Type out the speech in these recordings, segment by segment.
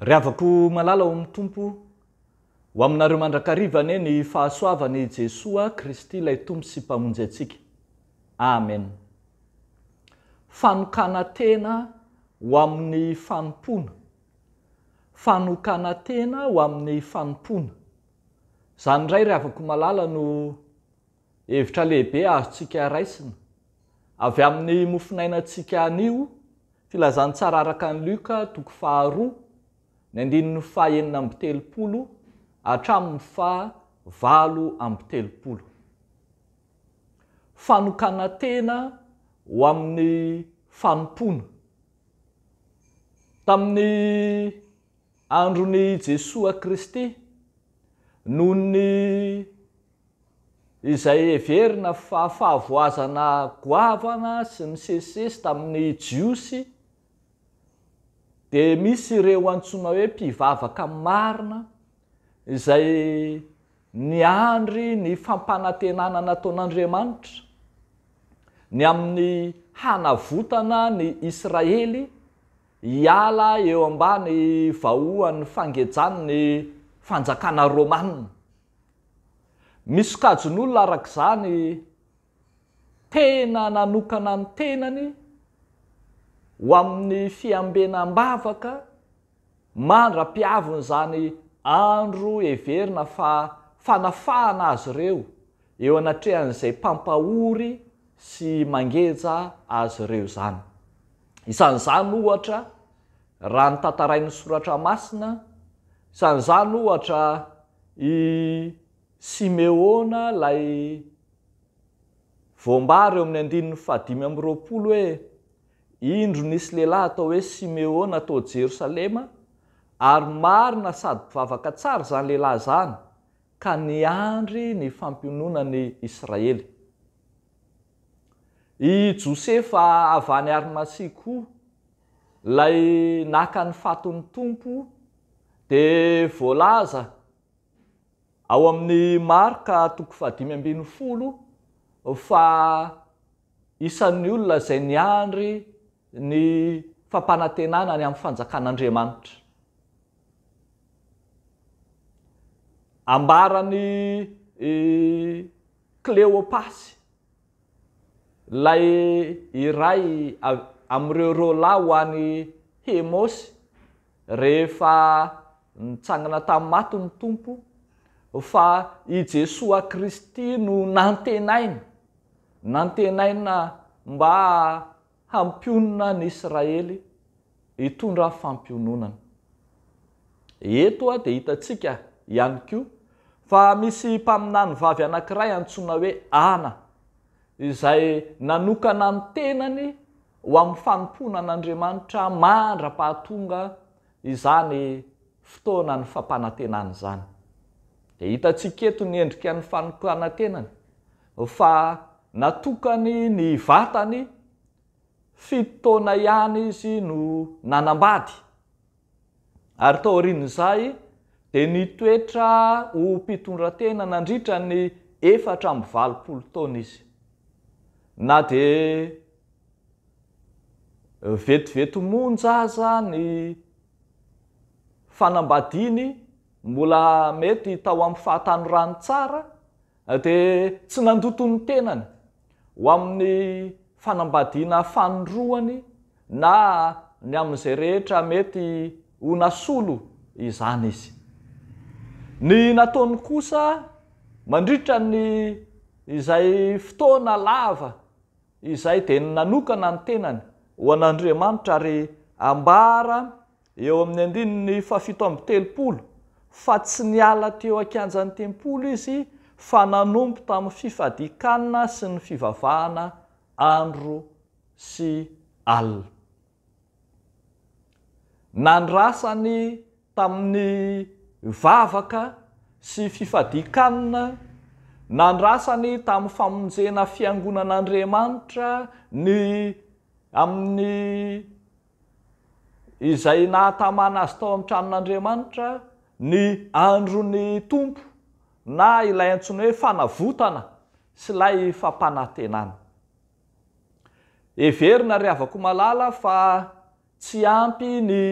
Ry havako malala ao amin'ny Tompo, ho aminareo mandrakariva anie ny fahasoavan' i Jesoa Kristy ilay Tompo sy Mpamonjy antsika. Amen. Fanokana tena ho amin'ny fanompoana. Fanokana-tena ho amin'ny fanompoana. Izany indray ry havako malala no hevitra lehibe azontsika raisina avy amin'ny mofonainantsika anio filazantsara araka an'i Luka toko faharoa ny andininy faha enina amby telopolo hatramin'ny faha valo amby telopolo. Fanokana-tena ho amin'ny fanompoana. Tamin'ny andron'i Jesoa Kristy, noho ny izay heverina fa fahavoazana goavana sy misesisesy tamin'ny Jiosy, dia misy ireo antsoina hoe mpivavaka marina izay Niandry ny fampanantenana nataon'Andriamanitra ny amin'ny hanavotana ny Israely hiala eo ambany vahoan'ny fangejan'ny fanjakana romanina. Misokajin'olona arak'izany tena nanokana ny tenany ho amin'ny fiambenam-bavaka mandra-pihavin'izany andro heverina fa fanafahana azy ireo eo anatrehan'izay mpampahory sy mangeja azy ireo izany. Isan'izany, ohatra, raha ny tantarain'ny Soratra Masina, isan'izany, ohatra, i. Simeona ilay voambara eo amin'ny andininy fahadimy amby roapolo hoe, Indro nisy lehilahy atao hoe Simeona tao Jerosalema, ary marina sady mpivavaka tsara izany lehilahy izany, ka niandry ny fampiononan'i Israely. I Josefa avy any Arimasia koa, ilay naka ny fatin'ny Tompo, dia voalaza ao amin'ny Marka toko fahadimy ambin'ny folo fa isan'ny olona izay niandry ny fampanantenana ny amin'ny fanjakan'Andriamanitra. Ambaran'i Kleopasy. Ilay iray amin'ireo rôla ho an'i Hemôsy rehefa nitsangana tamin'ny maty ny Tompo, fa i Jesoa Kristy no nantenaina, nantenaina mba Hampionona an'i Israely hitondra fampiononana. Eto dia hitantsika ihany koa fa misy mpaminany vavy anankiray antsoina hoe Ana, izay nanokana ny tenany ho amin'ny fanompoana an'Andriamanitra mandra-pahatonga izany fotoanan'ny fampanantenana izany. Dia hitantsika eto ny endrikan'ny fanokanan-tenany fa natokany ny vatany, fito taona ihany izy no nanambady ary taorian'izay dia nitoetra ho mpitondratena nandritra ny efatra amby valopolo taona izy. Na dia vetivety monja aza ny fanambadiany, mbola mety tao amin'ny fahatanorany tsara Dia tsy nandoto ny tenany ho amin'ny fanambadiana fanindroany na ny amin'izay rehetra mety ho nasolo izany izy. Ny nataony kosa mandritra ny izay fotoana lava izay dia ny nanokana ny tenany ho an'Andriamanitra ary ambara Eo amin'ny andininy fahafito amby telopolo, fa tsy niala teo an-kianjan'ny tempoly izy fa nanompo tamin'ny fifadian-kanina sy ny fivavahana andro sy alina. Nandrasany tamin'ny vavaka sy fifadian-kanina, nandrasany tamin'ny famonjena fiangonan'Andriamanitra ny amin'ny izay nahatamana azy tao amin'ny tranon'Andriamanitra, ny andron'ny Tompo, na ilay antsoina hoe fanavotana sy ilay fampanantenana. Heverina ry havako malala fa tsy ampy ny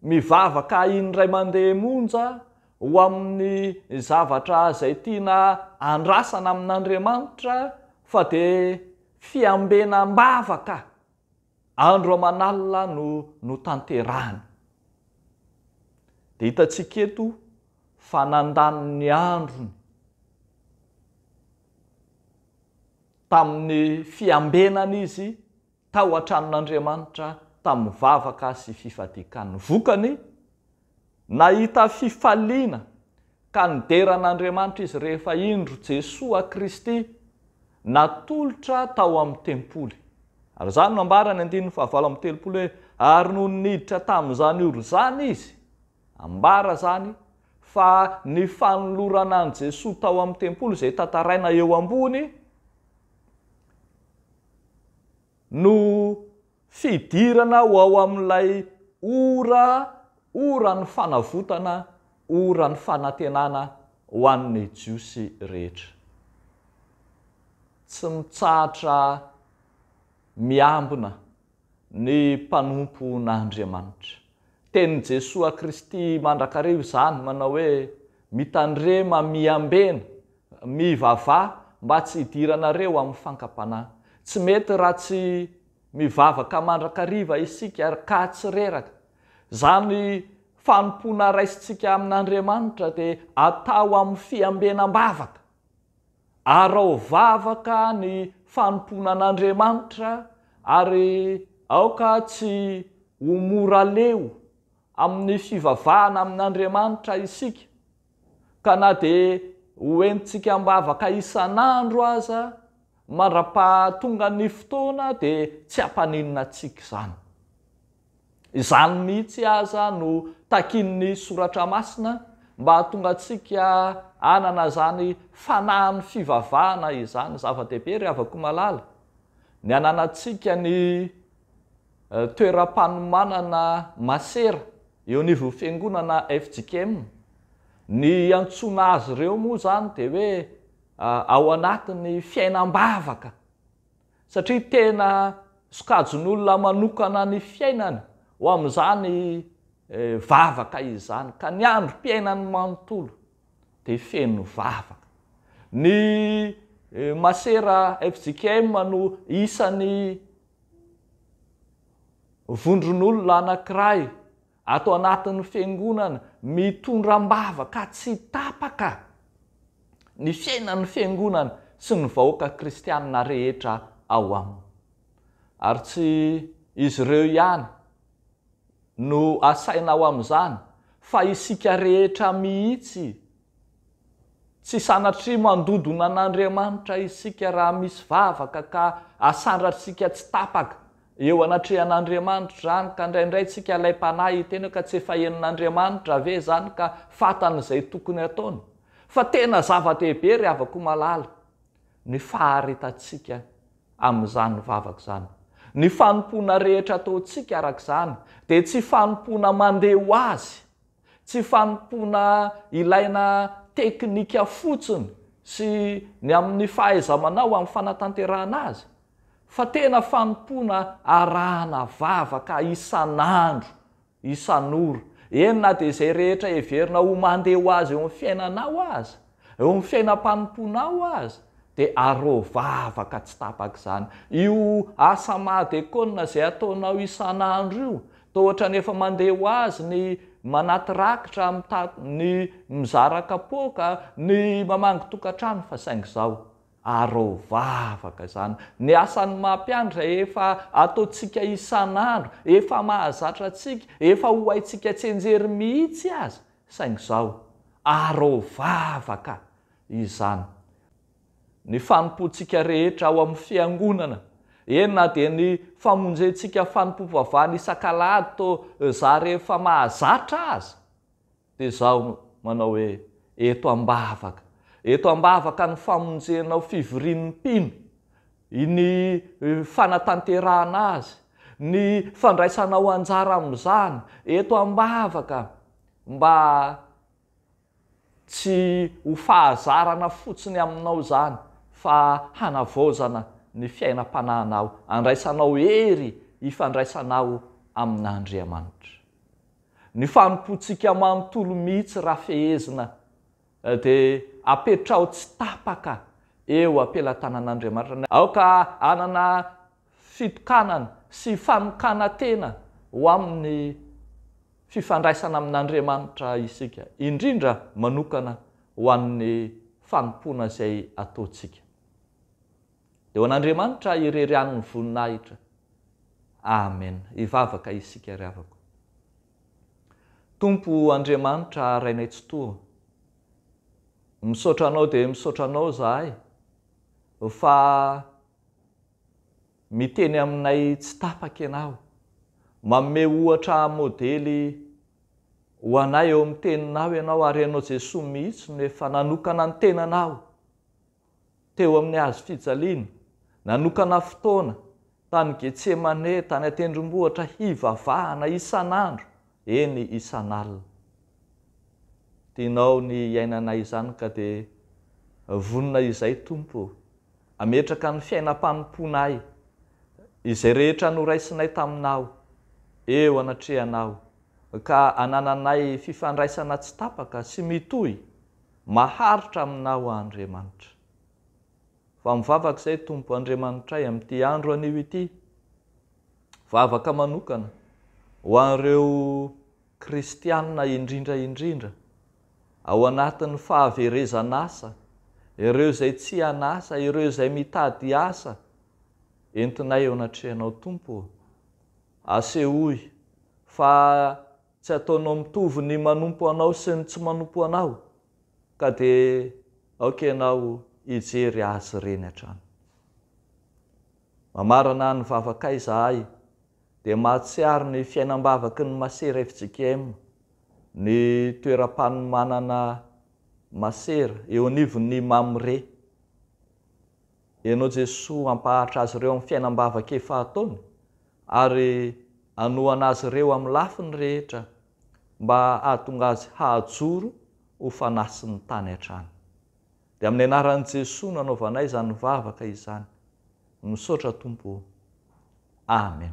mivavaka indray mandeha monja ho amin'ny zavatra izay tiana andrasana amin'Andriamanitra fa dia fiambenam-bavaka, Andro aman'alina no notanterahina. Dia hitantsika eto fa nandany ny androny tamin'ny fiambenana izy tao an-tranon'Andriamanitra, tamin'ny vavaka sy fifadian-kanina. Vokany, Nahita fifaliana ka nidera an'Andriamanitra izy rehefa indro Jesoa Kristy natolotra tao amin'ny tempoly. Ary izany no ambaran'ny andininy fahavalo amby telopolo hoe, Ary nony niditra tamin'izany ora izany izy, ambara izany fa ny fanolorana an'i Jesoa tao amin'ny tempoly izay tantaraina eo ambony, No fidirana ho ao amin'ilay ora, oran'ny fanavotana, oran'ny fanantenana ho an'ny Jiosy rehetra. Tsy mitsahatra miambina ny mpanompon'Andriamanitra. Tenin'i Jesoa Kristy mandrakariva izany manao hoe, Mitandrema miambena Mivavaha mba tsy hidiranareo amin'ny fankam-panahy. Tsy mety raha tsy mivavaka mandrakariva isika ary ka tsy reraka. Izany fanompoana raisintsika amin'Andriamanitra dia atao amin'ny fiambenam-bavaka. Araho vavaka ny fanompoana an'Andriamanitra ary aoka tsy ho mora leo amin'ny fivavahana amin'Andriamanitra isika. ka na dia hoentintsika am-bavaka isan'andro aza, mandra-paha tonga ny fotoana dia tsy hampaninona antsika izany. Izany mihitsy aza no takian'ny Soratra Masina mba hahatonga antsika hanana izany fanahin'ny fivavahana izany. Zava-dehibe ry havako malala ny hananantsika ny toeram-panomanana masera Eo anivon'ny fiangonana fjkm, ny iantsoana azy ireo moa izany dia hoe ao anatin'ny fiainam-bavaka, satria tena sokajin'olona manokana ny fiainany ho amin'izany vavaka izany, ka ny androm-piainany manontolo dia feno vavaka. Ny masera fjkm no isan'ny. Vondron'olona anankiray ato anatin'ny Fiangonana mitondra am-bavaka tsy tapaka ny fiainan'ny Fiangonana sy ny vahoaka kristianina rehetra ao aminy. Ary tsy izy ireo ihany no asaina ao amin'izany fa isika rehetra mihitsy Tsy sanatria mandodona an'Andriamanitra isika raha misy vavaka ka asandratsika tsy tapaka eo anatrehan'Andriamanitra izany ka indraindray tsika ilay mpanahy hiteny hoe ka tsy efa henon'Andriamanitra ve izany ka fatany izay tokony ataony? Fa tena zava-dehibe ry havako malala ny faharitantsika amin'izany vavaka izany. Ny fanompoana rehetra ataontsika arak'izany dia tsy fanompoana mandeha ho azy Tsy fanompoana ilaina teknika fotsiny sy ny amin'ny fahaiza-manao amin'ny fanatanterahana azy, fa tena fanompoana arahana vavaka isan'andro, isan'ora, eny na dia izay rehetra heverina ho mandeha ho azy eo amin'ny fiainanao aza. Eo amin'ny fiainam-panompoanao aza dia arovy vavaka tsy tapaka izany. Io asa mahadekona izay ataonao isan'andro io, toa ohatran'ny efa mandeha ho azy ny manaty rakitra, mitaky, ny mizara kapoaka, ny mamangy tokantrano fa saingy izao, arovy vavaka izany. Ny asan'ny maha mpiandry izay efa ataontsika isan'andro, efa mahazatra antsika, efa ho haintsika tsy enjery mihitsy aza, Saingy izao, arao vava ka! izany. Ny fanompoantsika rehetra ao amin'ny Fiangonana, eny na dia ny famonjentsika fanompoam-pivavahana isak'alahady to za rehefa mahazatra aza, dia izaho no manao hoe, eto am-bavaka, eto am-bavaka ny famonjenao fivorian'ny mpino, ny fanatanterahana azy, ny fandraisanao anjara amin'izany eto am-bavaka mba tsy ho fahazarana fotsiny aminao izany fa hanavaozana ny fiainam-panahinao, handraisanao hery hifandraisanao amin'Andriamanitra. Ny fanompoantsika manontolo mihitsy raha fehezina Dia apetraho tsy tapaka eo am-pelatanan'Andriamanitra. Aoka hanana fitokanana sy fanokana-tena ho amin'ny fifandraisana amin'Andriamanitra isika, indrindra manokana ho an'ny fanompoana izay ataontsika. Dia ho an'Andriamanitra irery ihany ny voninahitra. Amen. Hivavaka isika ry havako. Tompo Andriamanitra Rainay Tsitoha, misaotra Anao dia misaotra Anao izahay fa miteny aminay tsy tapaka Ianao, manome ohatra modely ho anay eo amin'ny Teninao Ianao ary Ianao Jesoa mihitsy no efa nanokana ny tenanao teo amin'ny hazo fijaliana, nanokana fotoana tany Getsemane tany an-tendrombohitra hivavahana isan'andro, eny isan'alina. Tianao ny hiainanay izany ka dia vonona izay Tompo o! Ametraka ny fiainam-panompoanay, izay rehetra noraisinay taminao, eo anatrehanao, ka anananay fifandraisana tsy tapaka sy mitohy Maharitra aminao aho Andriamanitra. Fa mivavaka izay Tompo Andriamanitray amin'ity andro anio ity. Vavaka manokana ho an'ireo kristiana indrindra indrindra ao anatin'ny fahaverezan'asa, ireo izay tsy an'asa, ireo izay mitady asa, entinay eo anatrehanao Tompo ô. Asehoy fa Tsy ataonao mitovy ny manompo anao sy ny tsy manompo anao ka dia aoka ianao hijery azy ireny hatrany. Mamarana ny vavakay izahay dia mahatsiaro ny fiainam-bavaky ny masera fjkm, ny toeram-panomanana masera eo anivon'ny Mamre. Ianao Jesoa hampahatra azy ireo amin'ny fiainam-bavaka efa ataony ary hanohana azy ireo amin'ny lafiny rehetra mba hahatonga azy hahajoro ho fanahy sy ny tany hatrany. Dia amin'ny anaran'i Jesoa no anaovanay izany vavaka izany. Misaotra Tompo o. Amen.